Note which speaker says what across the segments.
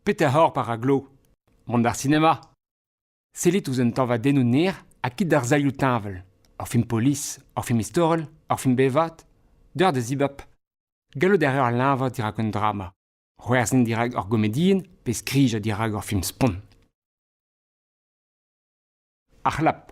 Speaker 1: Petra oc'h ar glo? Mont d'ar sinema? Sellit ouzh un tañvadennoù naer ha kit d'ar zailhoù teñval. Ur film polis, ur film istorel, ur film bevat, deuet da zibab. Gallout a ra leñvañ dirak un drama, c'hwerzhin dirak ur gomedienn pe skrijañ dirak ur film spont. Ar c'hlap.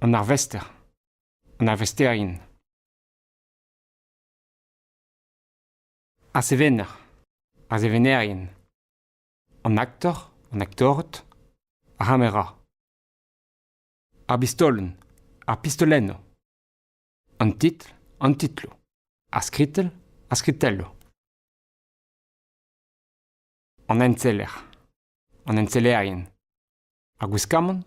Speaker 1: an arvester, an arvesterien, ar sevener, ar sevenerien, an aktor, an aktored, ar c'hamera, ar bistolenn, ar pistolennoù, an titl, an titloù, ar skritell, ar skritelloù, an enseller, an ensellerien, ar gwiskamant,